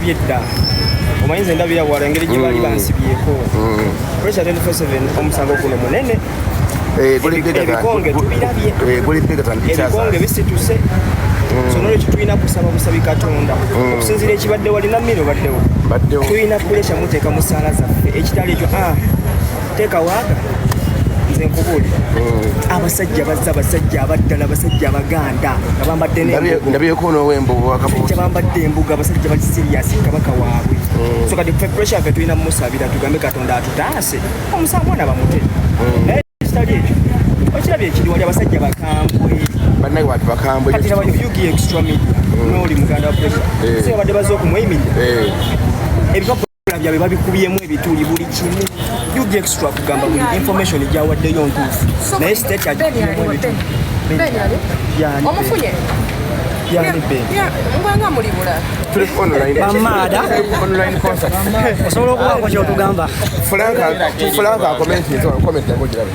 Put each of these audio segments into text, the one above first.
byedda omanyi nze ndabira wala engeri gye baali mm. bansibyeko mm. pressure 24/7 omusango guno munene eh, ebikonge tubirabye eh, ebikonge bisituse mm. sonolo kitulina kusaba busabi katonda okusinzira ekibadde walina mmiro baddewo tulina pulesha muteeka mu ssaala zaffe ekitali ekyo ah, teeka waaga nze nkubuulira hmm. abasajja bazza abasajja abaddala abasajja abaganda nga bambadde nbyekonoowembuwakabukya bambadde embuga abasajja bali siriyasi kabaka waabwe hmm. so kati pressure yaffe tulina mumusabira tugambe katonda atutaase omusango na bamute hmm. naye kitali ekyo okirabye ekiri wali abasajja bakambwe bannage bantu bakambwe kati laba yugi extra media nooli muganda wa pressure eh. so yabadde baze okumweyiminya eh. ebikapu ebikula byabwe babikubyemu ebituli buli kimu ug extra kugamba buli information gyawaddeyo ntuufu naye state omufunye mbwanga muli bulamaada osobola okubaako kyotugamba fulanka akomentinti okomenti yago girabe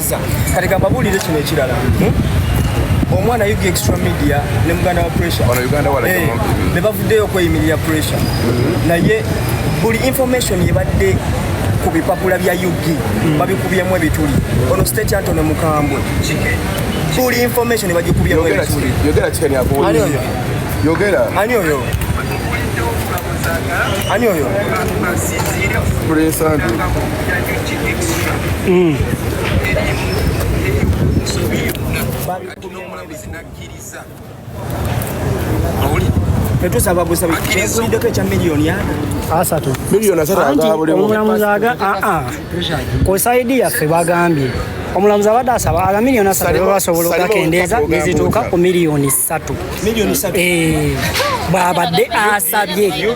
Kiriza kati gamba buulire kino ekirala hmm? omwana yuga extra media ne muganda wa pressure eh, ne bavuddeyo okweyimirira pressure mm-hmm. naye buli information yebadde ku bipapula bya ug mm. babikubyemu ebituli ono state antone mukambwe buli information bagikubyemu ebituli yogera ani oyo ani oyo mm. kosaidi yaffe bagambye omulamuzi abadde asaba aga miliyoni asatu bebasobola okugakendeeza nezituuka ku miliyoni satu eh, bwabadde asabye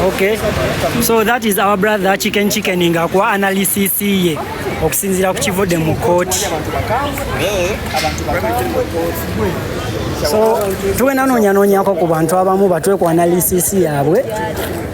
Okay. So that is our brother Chicken Chicken ng'akuwa analysis ye okusinziira ku kivudde mu kkooti. So tuwe nanoonya noonyako ku bantu abamu batwe ku analysis yaabwe.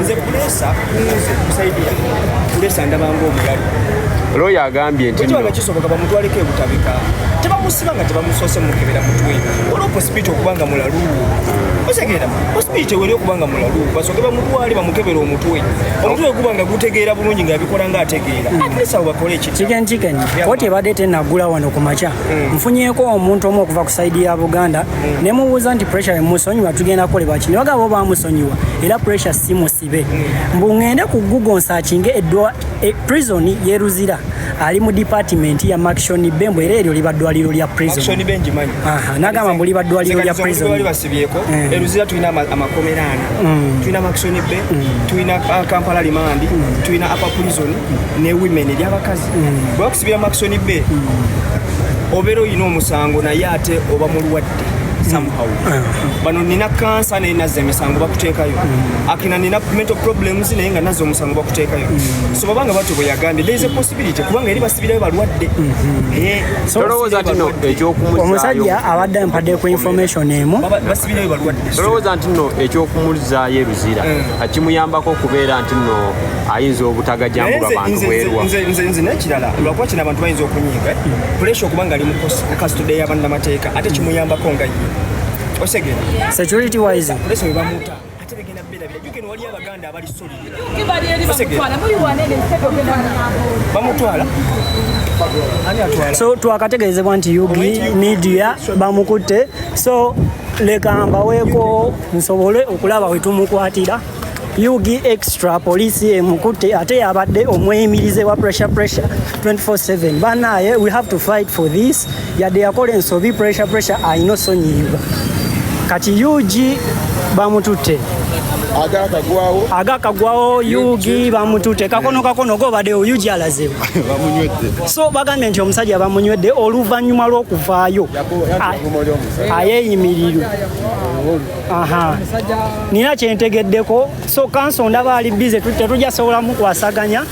nze kulesa kunze kusaidia kulesa ndabanga omulalu looya agambye ntikiba kisoboka bamutwaleko ebutabika tebamusiba nga tebamusoose mukebera mutwe waliwo posipiti okubanga mulalu osegeera posipiti weri okubanga mulalu basoke bamutwale bamukebera omutwe omutwe guba nga gutegeera bulungi nga abikola nga ategeera hmm. atlesa bakole ekitiganjiganya koti ebadde tenagula wano ku makya hmm. nfunyeeko omuntu omu okuva ku saidi ya buganda ne mubuuza nti pressure musonyiwa tugenda kolebwa ki ne bagamba bo bamusonyiwa era pressure si musibe mbu ŋŋende ku google nsakinge eddwa e, prison ye luzira ali mu department ya maction be mbu era eryo liba ddwaliro lya prison nagamba mbu liba ddwaliro lya prison eh. e luzira tulina amakomera ana mm. tulina maction be mm. tulina uh, kampala limandi mm. tulina upper prison ne women eryabakazi bwakusibira makisoni be obeera olina omusango naye ate oba mulwadde somehow bano nina kansa naye nazza emisango bakuteekayo akina nina mental problems naye nga nazza omusango bakuteekayo so babanga batyo bwe yagambye there is a possibility kubanga eri basibirayo balwadde Eh, tolowooza nti no omusajja ekyokumuzaayo abadde ampadde ku information emu baba- basibirayo balwadde tolowooza nti no ekyokumuzaayo e luzira akimuyambako okubeera nti no ayinza obutagajambulwa bantu bwerwa nze nekirala lwakuba kino abantu bayinza okunyiiga pulesha okuba nga ali mu kasitude yabannamateeka ate kimuyambako nga ye osegera security wise pulesha webamuta ate begenda birabira jukeno wali abaganda abali solibamutwala so twakategeezebwa nti ug media bamukutte so leka mbaweeko nsobole okulaba wetumukwatira ug extra poliisi emukutte ate yabadde omweyimirize wa pressure pressure 24/7 banaye we have to fight for this yadde yakola ensobi pressure pressure ayina osonyiyibwa kati ug bamututte agakagwawo agakagwawo ug bamututte kakono kakono gobadde ug alaze so bagambye nti omusajja bamunywedde oluvannyuma lw'okuvaayo ayeyimirirwe nina kyentegeddeko so kanso ndaba ali bize tetujja sobola mukwasaganya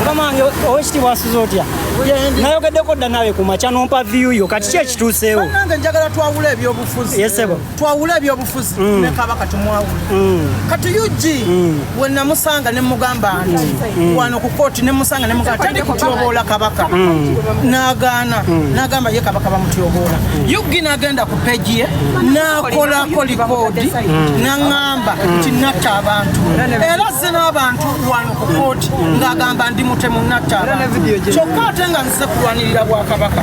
kamange owekitibwa asuza otya nayogeddeko dda nawe kumakya nompa viyu yo kati ki ekituuseewo twawule ebyobufuzi mm. ne kabaka tumwawule mm. kati ug mm. we namusanga ne mugamba nti wano ku kooti ne musanga ne mugamba tali kutyoboola kabaka nagaana nagamba ye kabaka bamutyoboola ug nagenda ku peji ye nakolako likoodi naŋamba nti natta abantu era ze n'abantu wano ku kooti ng'agamba ndi mutemu natta abantu kyokka ate nga nzize kulwanirira bwakabaka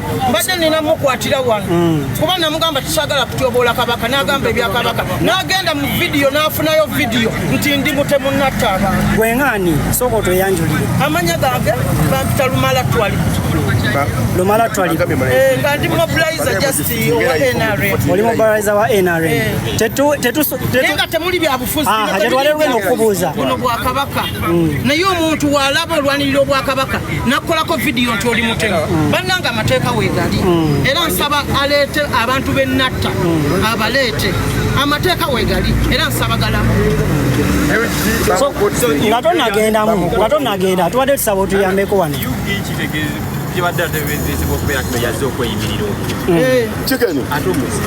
mbadde nina mukwatira wano mm. kuba namugamba tisagala kutyoboola kabaka nagamba ebyakabaka nagenda mu vidiyo nafunayo vidiyo nti ndi mutemu natta abantu gweŋani sooka otweyanjulire amanya gange bampita lumala twali lumala twali eh, nga ndi mobilizer just owa nrm oli mobilizer wa nrm eh. tetu tetu nga temuli byabufuzi ah, tetwalero lwena okubuuza buno bwakabaka naye omuntu walaba olwanirira obwakabaka nakukolako vidiyo nti oli mutemu mm. bannanga amateeka wegali mm. era nsaba aleete abantu benatta mm. abaleete amateeka wegali era nsaba galamu nga tonagendamu nga tonagendaa tubadde tusaba otuyambeko wano kibadde ateberezebwa okubeera kino yazze okweyimirira obululu mm. eh. kikeni ate omusi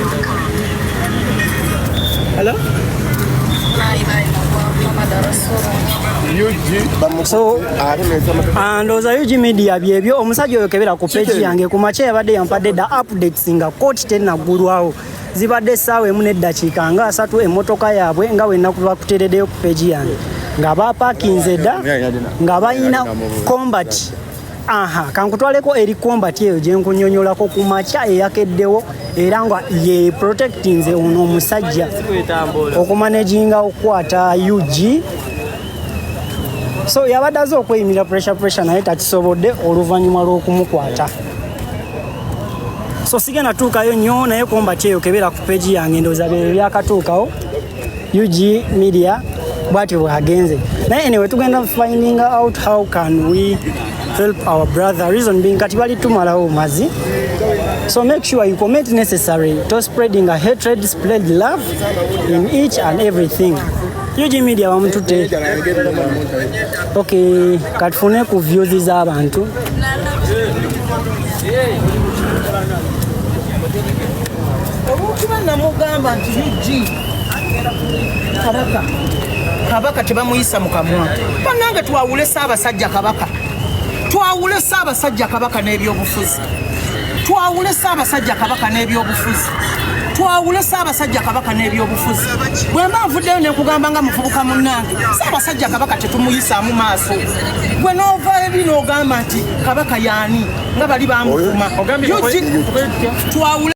ndowooza ug media byebyo omusajja oyo kebera ku peji yange ku makya yabadde yampadde da updates nga kooti tenaggulwawo zibadde essaawa emu n'eddakiika nga asatu emmotoka yaabwe nga wenna kuba kuteereddeyo ku peji yange nga baapakinze dda nga balina combat Aha, kankutwaleko eri kombati eyo gye nkunyonyolako ku makya eyakeddewo era nga ye protectinze ono omusajja okumanaginga okukwata ug so yabadde aze okweyimira pressure pressure naye takisobodde oluvannyuma lw'okumukwata so sigenda tuukayo nnyo naye kombati eyo kebeera ku peegi yange ndowooza bye byakatuukawo ug media bwatyo bwagenze naye anyway tugenda finding out how can we help our brother reason being kati bali tumalawo mazi so make sure you commit necessary to spreading a hatred spread love in each and everything ug media bamutute okay katufune ku views z'abantu Yeah. olwokuba namugamba nti ug kabaka kabaka tebamuyisa mu kamwa banange twawule saabasajja kabaka twawule saabasajja kabaka n'ebyobufuzi twawule saabasajja kabaka n'ebyobufuzi twawule saabasajja kabaka n'ebyobufuzi bwe mba nvuddeyo ne nkugamba nga muvubuka munnange saabasajja kabaka tetumuyisaamu maaso gwe n'ova ebi n'ogamba nti kabaka yaani nga bali bamuvuma twawule